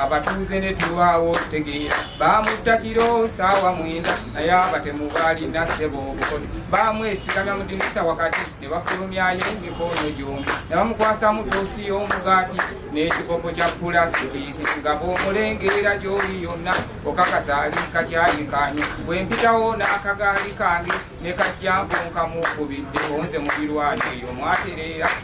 abatuuze ne tulwawo tegeera baamutta kiro saawa mwenda naye abatemu baalina ssebo obukodo baamwesigamya mu dinisa wakati ne bafulumyayo emikono gyombi ne bamukwasamu toosi y'omugaati n'ekikopo kya pulasitiki nga bw'omulengeera gy'oli yonna okakasa ali kakyayikaanyo bwe mpitawo n'akagaali kange ne kajjambo nkamuukubidde onze mu birwano eyo mwatereera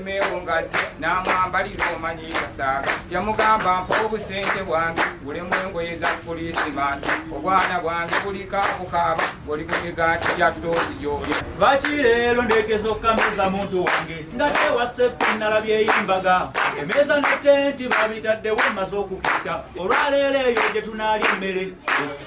meewungazi n'amwambalira omanyi kasaaga yamugamba mpa obusente bwange gulemu engoye za kulisimansi obwana bwange bulika bukaaba oli ku migaati gya toosi gyolya lwaki leero ndeekeza okukameeza muntu wange nga tewaseku nalabyeyimbaga emeeza netenti babitaddewo maze okukita olwaleero eyo gye tunaali emmere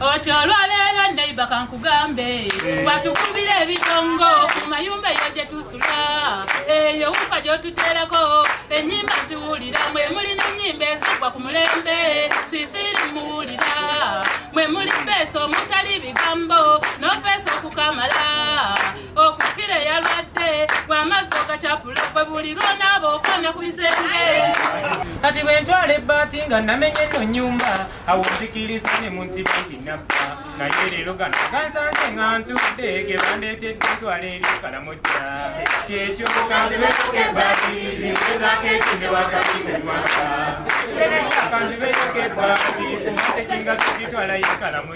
Ocho olwaleero neiba kankugambe watukubira ebitongo ku mayumba eyo gye tusula eyo wufa gy'otuteerako ennyimba ziwulira mwe muli n'ennyimba ezigwa ku mulembe sisiri muwulira mwe muli beesa omutali bigambo n'ofeesa okukamala okukira eyalwadde gwe amazzi ogacapula gwe buli lwonaaba okwana ku bisenge kati bwe ntwala ebbaati nga namenye no nyumba awo nzikiriza ne mu nsiba nti nabba naye leero gano gansanze nga ntudde ge bandeetedde ntwala eri kalamojja kyekyo kanzibeyoka ebbaati ziwezaako ekinde wakati mu mwaka kanzibeyoka ebbaati kumatekinga zigitwala ye kalamojja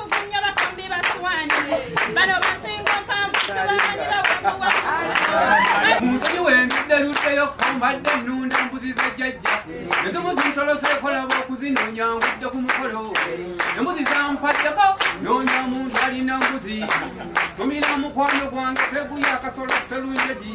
munsi wendudde luddeyo kombadde ennunda embuzi za jjajja ezimu zintolose ekolaba okuzinoonya ngudde ku mukolo embuzi zampaddeko noonya muntu alina mbuzi tumira mukwano gwange seguya akasolo selunjegi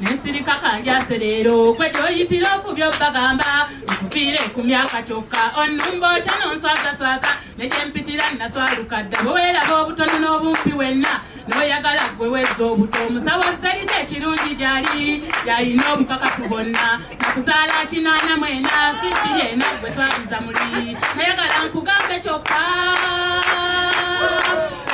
nesirika kanjase leero gwe gyoyitira ofubya obbagamba nkuviire ku myaka kyokka onumba otya nonswazaswaza negyempitira naswaluka dda bweweraba obutono n'obumpi wenna noyagala gwe weza obuto omusawo zalide ekirungi gyali yalina obukakafu bonna nakuzaala kinaana mwena sifi yena gwe twaliza muli nayagala nkugambe kyokka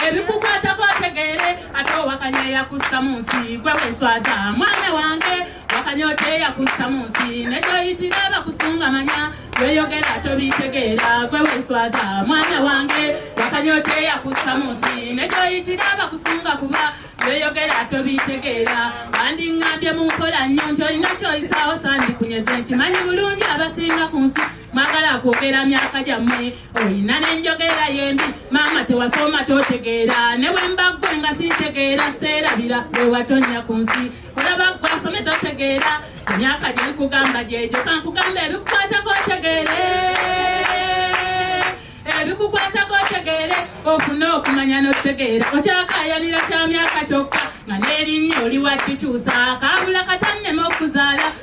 ebikukwatako otegeere ate owakanya eyakussa mu nsi gwe weswaza mwana wange wakanya oti eyakussa mu nsi nekyoyitira bakusunga manya weyogera tobitegeera gwe weswaza mwana wange wakanya oti eyakussa mu nsi nekyoyitira bakusunga kuba weyogera tobitegeera bandingambye mu nkola nnyo nti olina kyoyisaawo sandi kunyeze nkimanyi bulungi abasinga ku nsi mwagala kwogera myaka gyammwe oyina nenjogera yembi maama tewasoma totegeera ne bwembaggwe nga sintegeera seerabira wewatonya ku nsi olaba gwe asome totegeera emyaka gyenkugamba gyegyo kankugamba ebikukwatako otegeere ebikukwatako otegeere ofune okumanya notegeera okyakayanira kya myaka kyokka nga n'erinnya oli wakikyusa kaabula katannema okuzaala